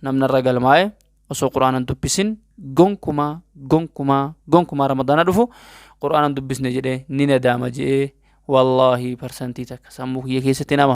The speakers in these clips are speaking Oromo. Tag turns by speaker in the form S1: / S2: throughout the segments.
S1: namni irra galmaa'e osoo quraanan dubbisin gonkumaa gonkumaa gonkumaa ramadaana dhufu quraanan dubbisne jedhee ni nadaama je'ee wallaahi parsantii takka sammuu kiyya keessatti nama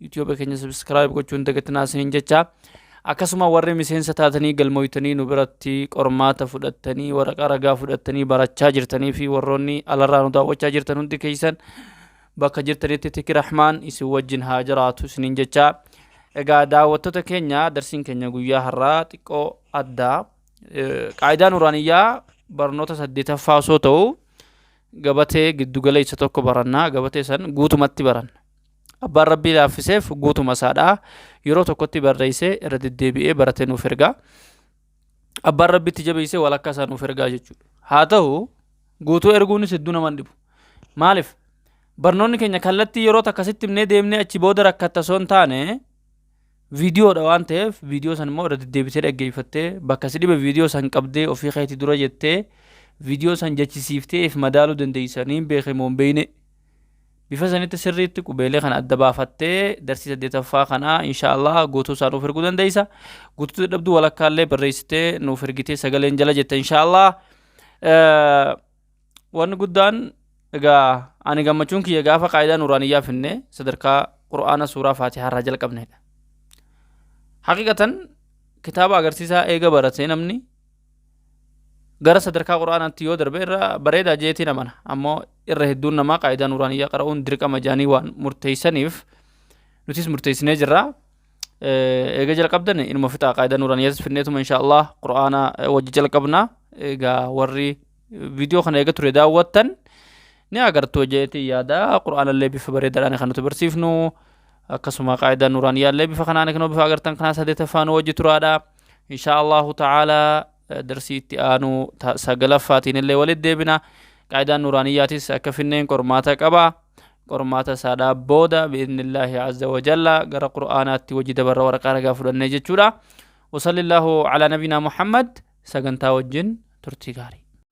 S1: YouTube keenya subscribe gochuu hin dagatinaa isiniin jecha. Akkasuma warri miseensa taatanii galmooytanii nu biratti qormaata fudhattanii waraqaa ragaa fudhattanii barachaa jirtanii fi warroonni alarraa nu daawwachaa jirtan hundi keessan bakka jirtanitti tiki rahmaan isin wajjin haa jiraatu isiniin jecha. Egaa daawwattoota keenya darsiin keenya guyyaa har'aa xiqqoo addaa. Qaayidaan Uraaniyyaa barnoota saddeetaffaa osoo ta'u gabatee giddugala isa tokko barannaa gabatee san guutumatti baranna. Abbaan Rabbii laaffiseef guutuma isaadhaa yeroo tokkotti barreessee irra deddeebi'ee baratee nuuf ergaa. Abbaan Rabbitti jabeessee walakkaa isaa nuuf ergaa jechuudha. Haa ta'u guutuu erguunis hedduu nama hin dhibu. Maaliif? Barnoonni keenya kallattii yeroo takka sitti himnee deemnee achi booda rakkatta osoo hin taane viidiyoodha waan ta'eef viidiyoo san immoo irra deddeebitee dhaggeeffattee bakka si dhibe viidiyoo san qabdee ofii keetii dura jettee viidiyoo san jechisiiftee if madaaluu dandeessanii beekamoo hin beekne. Bifa sanitti sirriitti qubeelee kana adda baafattee darsii saddeetaffaa kana inshaallah guutuu isaa nuuf erguu dandeessa. Guutuu dadhabduu walakkaa illee barreessitee nuuf ergitee sagaleen jala jetta inshaallah. Wanni guddaan egaa ani gammachuun kiyya gaafa qaayidaa nuuraaniyyaa finne sadarkaa qur'aana suuraa faatihaa irraa jalqabneedha. Haqiqatan kitaaba agarsiisaa eega baratee namni gara sadarkaa qur'aanaatti yoo darbe irra bareedaa jeetiin amana ammoo irra hedduun namaa qaayidaa nuuraaniyyaa qara'uun dirqama jaanii waan murteeysaniif nutis murteeysinee jirra eega jalqabdan inuma fixaa qaayidaa nuuraaniyyaas finneetuma insha allah qur'aana wajji jalqabna egaa warri viidiyoo kana eega ture daawwattan ni agartu jeetii yaada qur'aanallee bifa bareedaadhaan kan nuti barsiifnu akkasuma qaayidaa nuuraaniyyaallee bifa kanaan kan bifa agartan kanaa sadeetaffaan wajji turaadha inshaa allahu ta'aalaa darsii itti aanu ta- sagalaffaatiin illee walit deebina qaayidaan nuraaniyyaatis akka finneen qormaata qaba qormaata isaadhaa booda biidnillaahi azza wajalla gara qur'aanaatti wajji dabarra waraqaa ragaa fudhannee jechuudha wasalli illaahu alaa nabinaa muhammad sagantaa wajjin turtii gaarii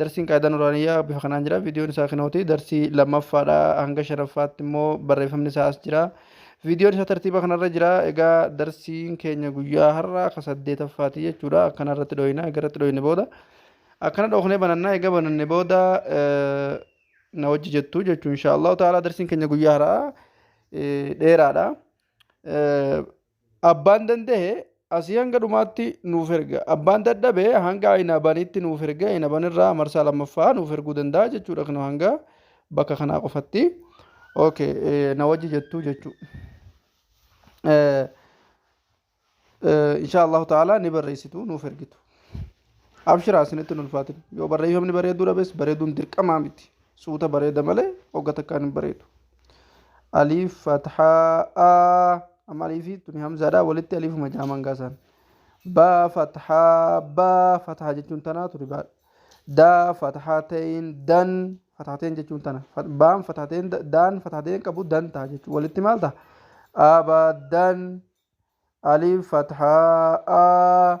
S2: Darsiin qaayidaa nuraaniyyaa bifa kanaan jira. Viidiyoon isaa kinooti. Darsii lammaffaadha. Hanga shanaffaatti immoo barreeffamni isaa as jira. Viidiyoon isaa tartiiba kanarra jira. Egaa darsiin keenya guyyaa har'aa ka saddeetaffaati jechuudha. Akkana irratti dhooyina. Egaa irratti dhooyine booda. Akkana dhooknee bananna. Egaa bananne booda na wajji jettu jechuun inshaallahu ta'ala darsiin keenya guyyaa har'aa dheeraadha. Abbaan dandahe asii hanga dhumaatti nuuf erga. Abbaan dadhabe hanga inabanitti nuuf erga. Inaban irraa marsaa lammaffaa nuuf erguu danda'a jechuudha kino hanga bakka kanaa qofatti. Okay, eh, na wajji jettu jechuu. Eh, eh, insha Allahu ta'ala ni barreessitu nuuf ergitu. Abshiraa isinitti hin ulfaatin. Yoo barreeffamni bareeduu dhabes bareeduun dirqamaa miti. Suuta bareeda malee hogga takkaan hin bareedu. Aliif fathaa amma aliifi tuni hamzaadha walitti aliifuma jaaman gaasaan. Baa fathaa baa fathaa jechuun tanaa tuni baadha. Daa fathaa ta'een dan fathaa ta'een jechuun tana. Fat- Baan fathaa ta'een da- daan fathaa ta'een qabu dan ta'a jechuun walitti maal ta'a? Abadan aliif fathaa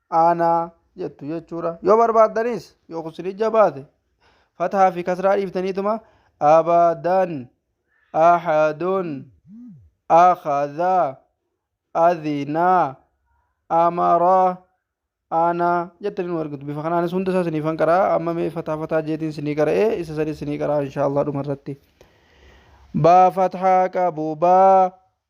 S2: aanaa jettu jechuudha yoo barbaaddanis yoo kusinii jabaate fatahaa fi kasraa dhiiftaniituma abadan ahadun akhadha adhina amara ana jettanii nu argitu bifa kanaanis hunda isaa siniifan qaraa amma mee fataa fataa jeetiin sinii qara'ee isa sanis sinii qaraa inshaallah dhuma irratti baa fathaa qabu baa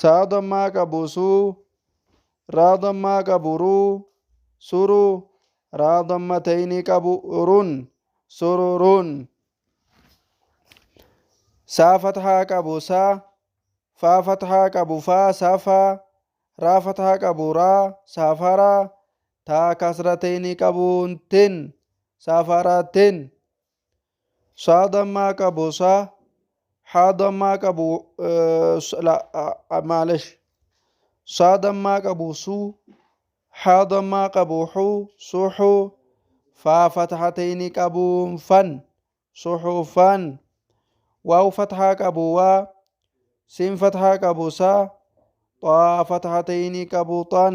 S2: Saa dammaa qabu suu. Raa dammaa qabu ruu. Suru. Raa damma ta'ini qabu run. Sururun. Saa fathaa qabu saa. Faa fathaa qabu faa safaa. Raa fathaa qabu raa safaraa. Taa kasra ta'ini qabu tin. Safaratin. Saa dammaa qabu saa. Haa dammaa qabu eh, s- la- ah, ah, maalish. Saa dammaa qabu suu. Haa dammaa qabu huu suhuu. Faa fathatayni qabu fan suhufan. Waaw fathaa qabu waa. Siin fathaa qabu saa. Xaa fathatayni qabu xan.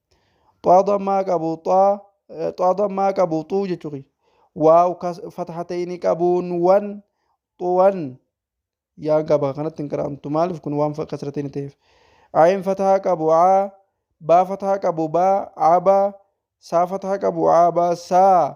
S2: xaa dammaa qabu xaa xaa dammaa qabu xuu jechuu kiyya waaw kas fataha ta'e ni qabuun wan xuwan yaa gaba kanatti hin qiraamtu maaliif kun waan kasra ta'e ni ta'eef ayin fataha qabu aa baa fataha qabu baa aa baa saa fataha qabu aa baa saa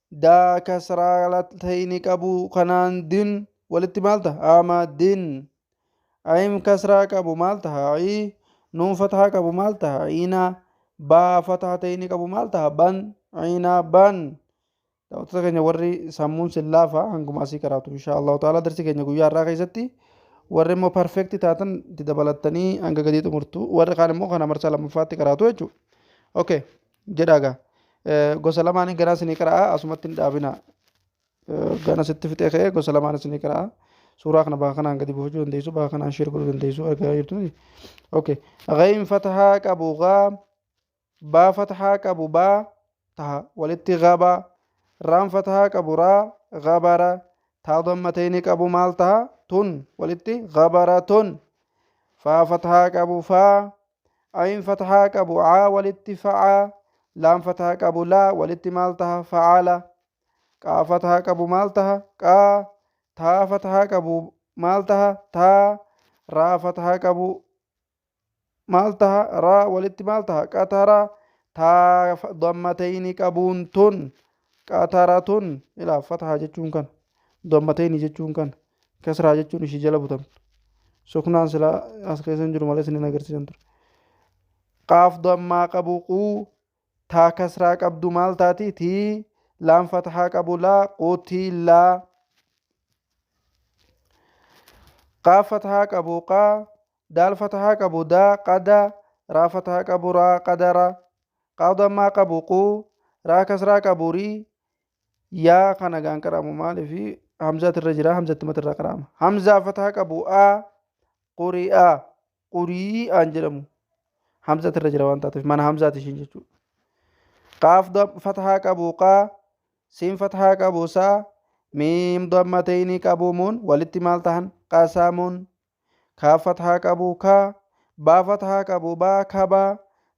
S2: daa kasraa latayni qabu kanaan din walitti maal taha ama din ayim kasraa qabu maal taha i nuun fatahaa qabu maal taha ina baa fatahatayni qabu maal taha ban ina ban daawwattoota keenya warri sammuun sin laafa hanguma asii karaatu insha allahu ta'ala darsi keenya guyyaa har'aa keessatti warri immoo perfekti taatan itti dabalattanii hanga gadii xumurtu warri kaan immoo kana marsaa lammaffaatti karaatu jechuudha okay jedhaa gaa gosa lamaan ganaa isinii qara'a asumatti hin dhaabina gana sitti fixee ka'ee gosa lamaan isinii qara'a suuraa kana bakka kanaan gadi buufachuu dandeessu bakka kanaan sheer godhuu dandeessu argaa jirtu miti okay ghayn fatahaa qabu gaa baa fatahaa qabu baa taha walitti gabaa raan fatahaa qabu raa gabara taa dammatayni qabu maal taha tun walitti gabara tun faa fatahaa qabu faa ayin fatahaa qabu aa walitti fa'aa laam fatahaa qabu laa walitti maal taha fa'aala qaa fatahaa qabu maal taha qaa taa fatahaa qabu maal taha taa raa fatahaa qabu maal taha raa walitti maal taha qataraa taa dammatayni qabuun tun Qaataaraatoon ilaa fatahaa jechuun kana. Dammateeni jechuun kana. Kasraa jechuun ishii jala butamtu. Suknaan silaa as keessa hin jiru malee isiniin agarsiisan ture. Qaaf dammaa qabu quu taa kasraa qabdu maal taati tii laan fatahaa qabu laa quutii laa. Qaaf fatahaa qabu qaa Daal fatahaa qabu daa qada Raa fatahaa qabu raa qadara Qaa dammaa qabu quu Raa kasraa qabu rii Yaa kana gaan qara'amu maalifi Hamzaati irra jira Hamzatti mata irraa qara'ama Hamzaa fatahaa qabu A quri'aa quri'aan jedhamu Hamzati irra jira waan taateef mana Hamzaati ishiin jechuudha Qaaf fatahaa qabu qaa Siin fatahaa qabu saa Miim dammateyni qabuumuun walitti maal tahan qasamuun Kaaf fathaa qabu ka. Baa fathaa qabu ba, kaba.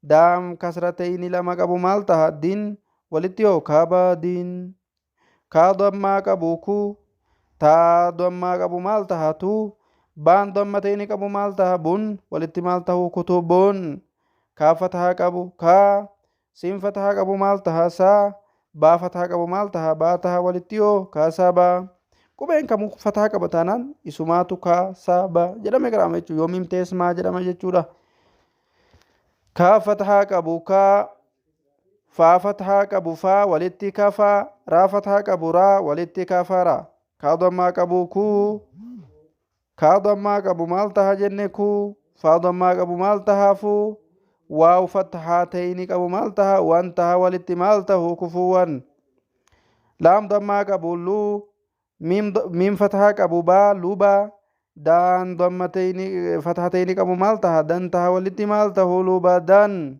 S2: Daam kasratayni lama qabu maal taha? Din. Walitti hoo? Kabadin. Kaa dammaa qabu ku. Taa dammaa qabu maal taha? Tu. Baan dammatayni qabu maal taha? Bun. Walitti maal tahu? Kutubun. Kaaf fathaa qabu ka. Siin fatahaa qabu maal taha? Saa. Baa fataha qabu maal taha? Baa taha walitti hoo? Kaa saa baa. Qubeen kamu fataha qaba taanaan isumaatu kaa saa baa jedhame qaraama jechuudha. Yoo miim ta'es maa jedhama jechuudha. Kaa fatahaa qabu kaa. Faa fatahaa qabu faa walitti kafaa. Raa fatahaa qabu raa walitti kafaraa. Kaa dammaa qabu kuu. Kaadhan maa qabu maal taha jenne kuu faadhan maa qabu maal taha fuu waaw fathaa ta'ini qabu maal taha wan taha walitti maal tahu kufuuwan laam dammaa qabu luu miim d- miim fathaa qabu baa lubaa daan damma ta'ini fathaa ta'ini qabu maal taha dan taha walitti maal tahu lubadan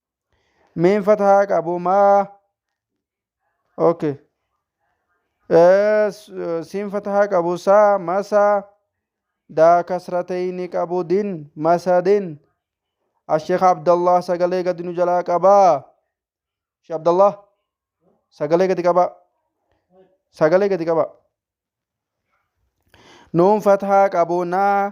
S2: Miin fatahaa qabu maa okay Eh, s- siin fatahaa qabu saa masaa daa kasratayni qabu din masadin asheekh abdallah sagalee gadi nu jalaa qabaa sheekh abdallah sagalee gadi qabaa sagalee gadi qabaa nuun fatahaa qabu naa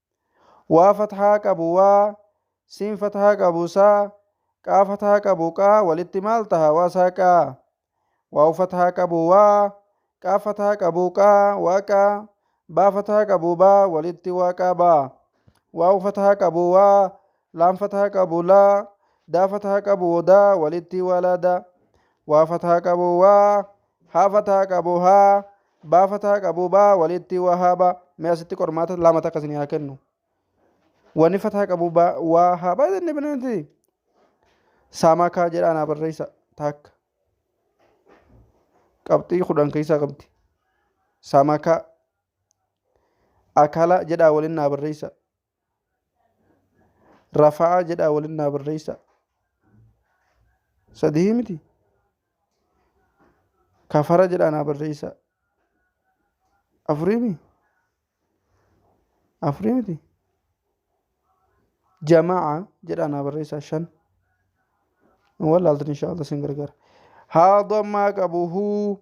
S2: waa fathaa qabu waa siin fathaa qabu saa qaa fathaa qabu qaa walitti maal taha waa saa qaa waaw fathaa qabu waa qaa fathaa qabu qaa waa qaa baa fathaa qabu baa walitti waa qaa baa waaw fathaa qabu waa laam fathaa qabu laa daa fathaa qabu daa walitti waa laa daa waa fathaa qabu waa haafataa qabu haa baafataa qabu baa walitti waa haa baa mee asitti qormaata lama takka isin haa kennu wani fataa qabu baa waa haa baa jenne bineensi saamaa kaa jedhaa naa barreessa takka qabxii kudhan keessaa qabdi saamaa kaa akala jedhaa waliin naa barreessa rafa'aa jedhaa waliin naa barreessa sadihii miti kafara jedhaa naa barreessa afurii mi afurii miti jama'a jedhaa naa barreessa shan walaaltan inshaa Allah sin gargaara haadha ammaa qabu huu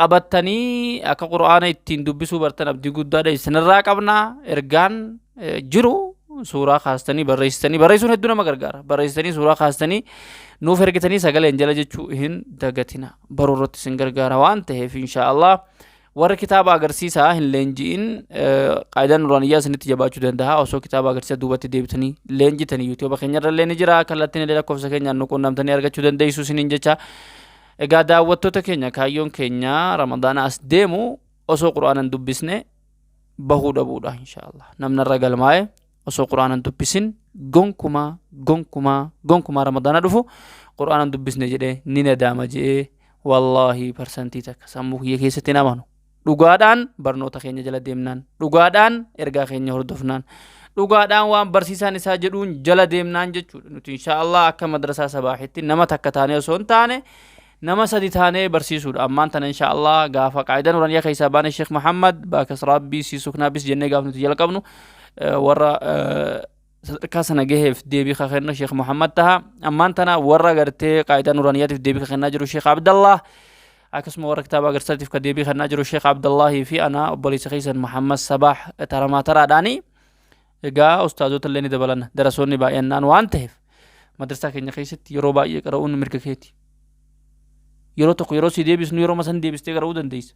S1: qabattanii akka qur'aana ittiin dubbisuu bartan abdii guddaadha isinirraa qabna ergaan jiru suuraa kaastanii barreessitanii barreessuun hedduu nama gargaara barreessitanii suuraa kaastanii nuuf ergitanii sagaleen jala jechuu hin dagatina baruu irratti isin gargaara waan ta'eef inshaa Allah warri kitaaba agarsiisaa hin leenji'in qaayidaan nuraaniyyaa isinitti jabaachuu danda'a osoo kitaaba agarsiisa duubatti deebitanii leenjitanii yuutuuba keenyarra illee ni jira kallattiin illee lakkoofsa keenyaan nu quunnamtanii argachuu dandeessu isiniin jecha Egaa daawwattoota keenya kaayyoon keenya ramadaana as deemu osoo quraanan dubbisne bahuu dhabuudha inshaallah namnarra galmaa'e osoo quraanan dubbisin gonkumaa gonkumaa gonkumaa ramadaana dhufu quraanan dubbisne jedhee ni nadaama je'ee wallaahi parsantii takka sammuu kiyya keessatti hin amanu Dhugaadhaan barnoota keenya jala deemnaan, dhugaadhaan ergaa keenya hordofnaan, dhugaadhaan waan barsiisaan isaa jedhuun jala deemnaan jechuudha. Nuti insha Allah akka madrasaa sabaahitti nama takka taanee osoo hin taane nama sadi taanee barsiisuudha. Ammaan tana insha Allah gaafa qaayidaa nuraniyaa keessaa baane Sheekh Muhammad baakas Rabbii sii suknaabis jennee gaaf nuti jalqabnu warra sadarkaa sana gaheef deebii ka kennu Sheekh Muhammad taha. Ammaan tana warra gartee qaayidaa nuraaniyaatiif deebii ka kennaa jiru Sheekh Abdallah. Akkasuma warra kitaaba agarsiisaatiif ka deebii kennaa jiru Sheekh Abdallahii fi ana obboleessa keessan Muhammad Sabaax taramaa taraadhaani. Egaa ustaazota illee ni dabalanna darasoonni baay'annaan waan ta'eef madrasaa keenya keessatti yeroo baay'ee qara'uun mirga keeti. Yeroo tokko yeroo si deebisnu yeroo masan deebistee qara'uu dandeessa.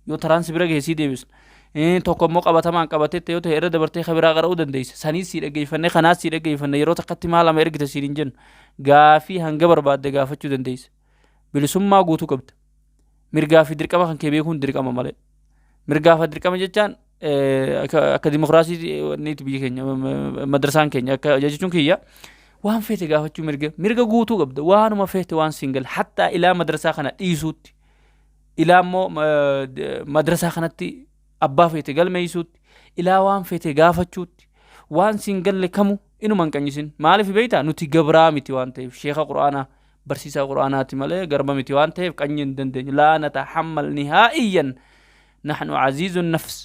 S1: yoo taraan si bira gahe sii deebisna Eh, tokko immoo qabatamaan qabateetta yoo ta'e irra dabartee ka biraa qara'uu dandeessa saniis sii dhaggeeffanne kanaas sii dhaggeeffanne yeroo takkatti maa lama ergita siin hin jennu gaafii hanga barbaadde gaafachuu dandeessa bilisummaa guutuu qabda mirgaa fi dirqama kan kee beekuun dirqama malee mirgaa fi dirqama jechaan eh, akka akka dimokiraasii niiti biyya keenya m- m- madrasaan keenya akka jechuun kiyya waan feete gaafachuu mirga mirga guutuu qabda waanuma feete waan siin gale hattaa ilaa madrasaa kana dhiisuutti ilaa immoo madrasaa kanatti abbaa feete galmeeysuutti ilaa waan feete gaafachuutti waan siin galle kamu inuma hin qanyisin maaliif beeyta nuti gabraa miti waan ta'eef sheeka qur'aanaa barsiisaa qur'aanaati malee garba miti waan ta'eef qanyi hin dandeenyu laa natahammal nihaa'iyyan nahnu aziizu nafs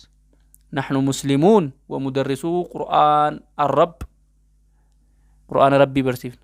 S1: nahnu muslimuun wa mudarrisuu qur'aan arrab qur'aana rabbii barsiifna